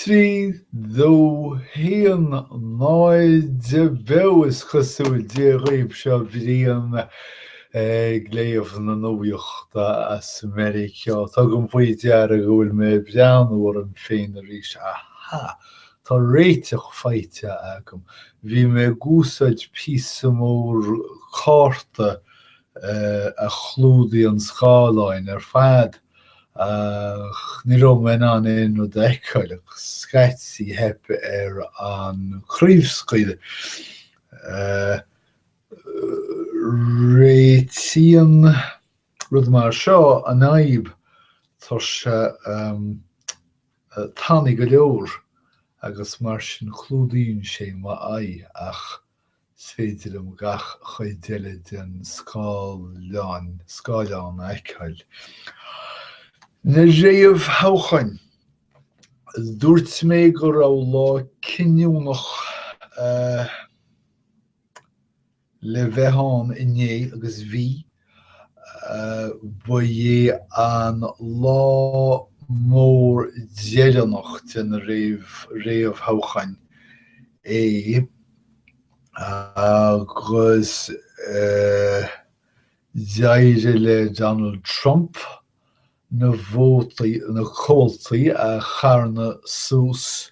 Trí, dó, haon, náid, beo, is cosúil, Dia daoibh, seo Brian ag léamh na nuachta as Meiriceá. Tugaim faoi deara go bhfuil mé ag breathnú orm féin arís. Aha! Tá réiteach faighte agam. Bhí mé ag úsáid píosa mór cárta a chlúdaíonn an scáileán ar fad. ach ní raibh mé in ann aon rud a fheiceáil agus scaití theip ar an chraobhscaoileadh. Réitíonn rud mar seo an fhadhb, tá sé tanaí go leor agus mar sin clúdaíonn sé m'aghaidh ach. is féidir liom gach cuid eile den scáileán, scáileán a fheiceáil. Na réamhthoghcháin, dúirt mé go raibh lá cinniúnach le bheith ann inné agus bhí. Ba é an lá mór deireanach de na réamhthoghcháin é agus d'éirigh le Donald Trump na vótaí, na comhaltaí a charnadh suas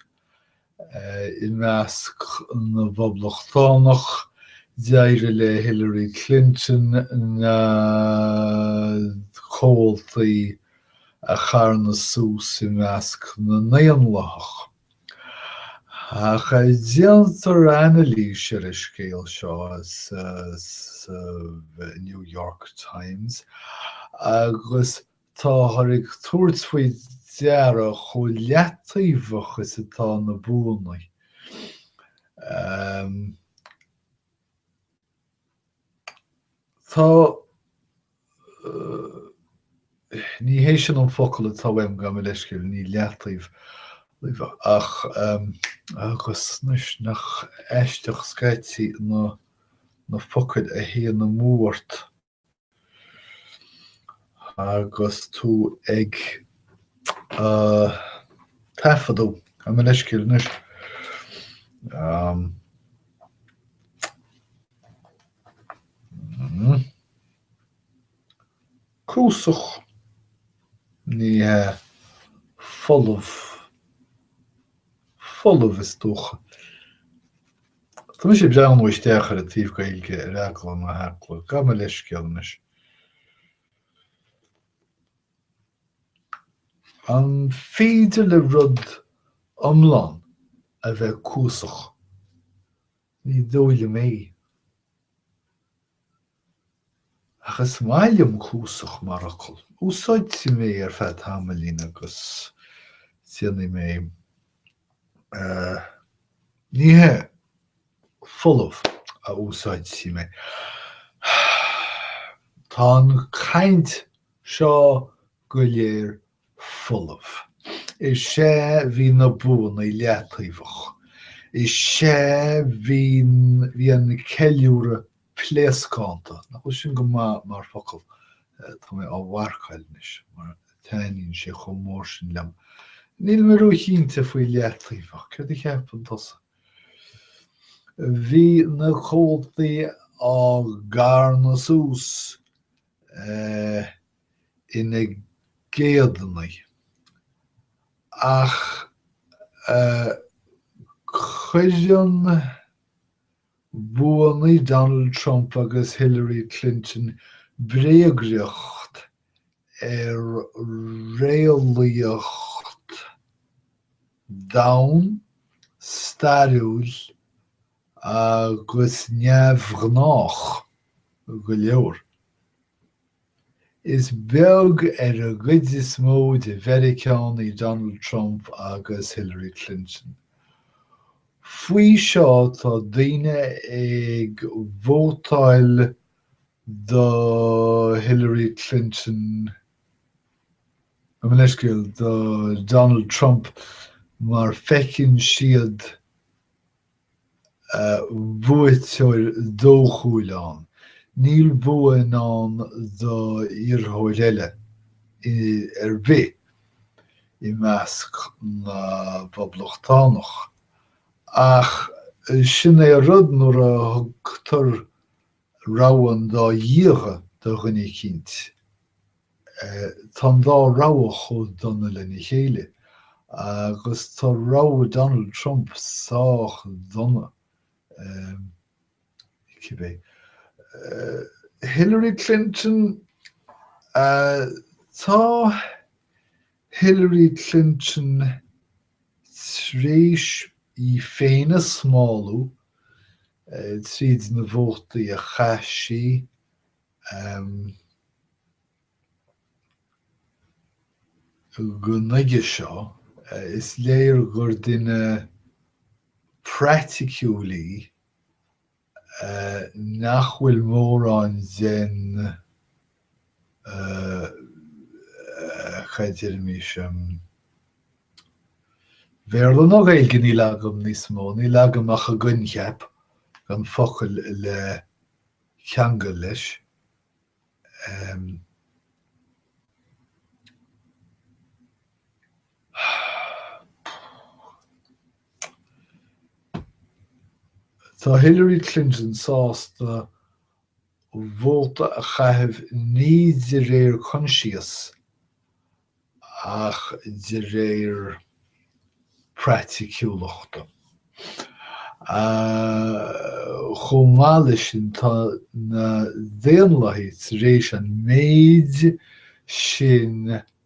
I measc na bPoblachtánach, d'éirigh le Hillary Clinton na comhaltaí a charnadh suas i measc na nDaonlathach. Ach déantar anailís ar an scéal seo sa, sa New York Times agus Táthar ag tabhairt faoi deara chomh leataobhach is atá na buanna. Tá Ní hé sin an focal atá uaim, gabh mo leithscéal, ní leataobhach, ach agus anois nach aisteach scaití na focail a théann amú ort. Agus tú ag taifeadadh gabh mo leithscéal anois, cuasach, ní hea, folamh, folamh is dócha. Tá mé ag breathnú isteach ar an taobh Gaeilge ar eagla na heagla. Gabh mo leithscéal anois. An féidir le rud iomlán a bheith cuasach? Ní dóigh liom é. Ach is maith liom cuasach mar fhocal. Úsáidfidh mé ar feadh tamaillín agus déanfaidh mé nithe folamh a úsáidfidh mé. Tá an chaint seo go léir folamh. Is é, bhí na buanna leataobhach. Is é, bhí, bhí an ceiliúradh pléascánta. Nach bhfuil sin go maith mar focal? Tá mé á mharcáil anois mar taitníonn sé chomh mór sin liom. Níl mé róchinnte faoi leataobhach. Céard a cheapann tusa? Bhí na comhaltaí á gcarnadh suas. ina gcéadta. Ach cuireann buanna Donald Trump agus Hillary Clinton bréagriocht ar réalaíocht domhain, stairiúil, agus neamhghnách go leor. Is beag ar an gcuid is mó de Mheiriceánaigh Donald Trump agus Hillary Clinton. Faoi seo tá daoine ag vótáil do Hillary Clinton, mo leithscéal, do Donald Trump mar feiceann siad buaiteoir dóchúil ann, níl bua i ndán do iarrthóir eile ar bith i measc na bPoblachtánach. Ach sin é an rud, nuair a thugtar rogha an dá dhíogha do dhuine eicínt. Tá an dá rogha chomh dona lena chéile, agus tá rogha Donald Trump sách dona cibé. Hillary Clinton? Tá Hillary Clinton tar éis í féin a smálú tríd na vótaí a chaith sí go nuige seo, is léir gur duine praiticiúil í nach bhfuil mórán den. cad deirim as Bhéarla nó Gaeilge níl agam níos mó, níl agam ach an coincheap gan focail le ceangal leis. Tá Hillary Clinton sásta vóta a chaitheamh ní de réir coinsias ach de réir praiticiúlachta. Chomh maith leis sin, tá na Daonlathaigh tar éis an méid sin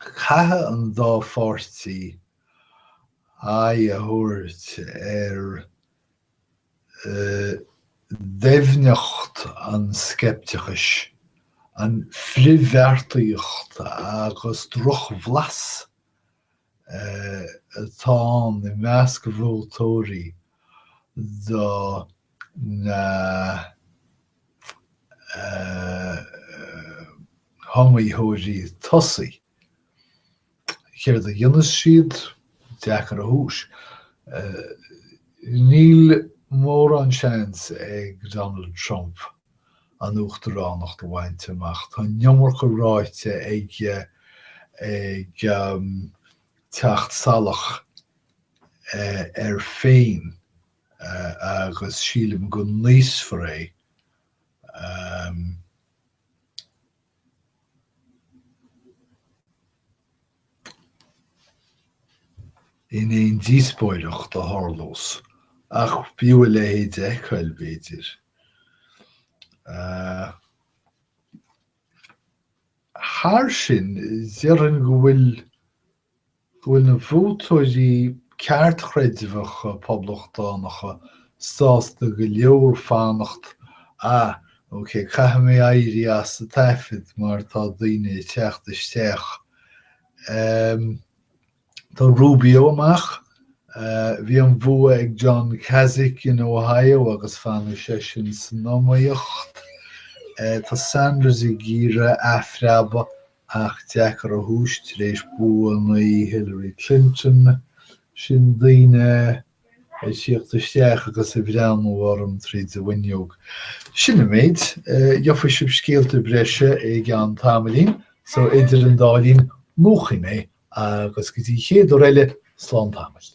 Caithfidh an dá pháirtí aghaidh a thabhairt ar dhoimhneacht an sceipteachais, an frithbheartaíocht agus drochbhlas atá i measc vótóirí do na. hiomaitheoirí tosaigh. Céard a dhéanfas siad? Deacair a thomhas. Níl mórán seans ag Donald Trump an uachtaránacht a bhaint amach. Tá an iomarca ráite aige ag teacht salach air féin. agus sílim go n-íosfar é in aon díospóireacht a tharlós, ach b'fhiú a leithéid a fheiceáil, b'fhéidir. Thar sin, déarfainn go bhfuil go bhfuil na vótóirí ceartchreidmheacha poblachtánacha sásta go leor fanacht Ah, ok, caithfidh mé éirí as an taifead mar tá daoine ag teacht isteach. Ehm, tá Rubio amach. Bhí an bhua ag John Kasich in Ohio agus fanfaidh seisean san iomaíocht. Tá Sanders ag iarraidh athphreabadh Ach deacair a thomhais tar éis buannaí Hillary Clinton, sin daoine a tíocht isteach agus ag breathnú orm tríd an bhfuinneog. Sin an méid. Gheofaidh sibh scéalta breise i gceann tamaillín, so idir an dá linn, múchfaidh mé agus go dtí an chéad uair eile, slán tamall.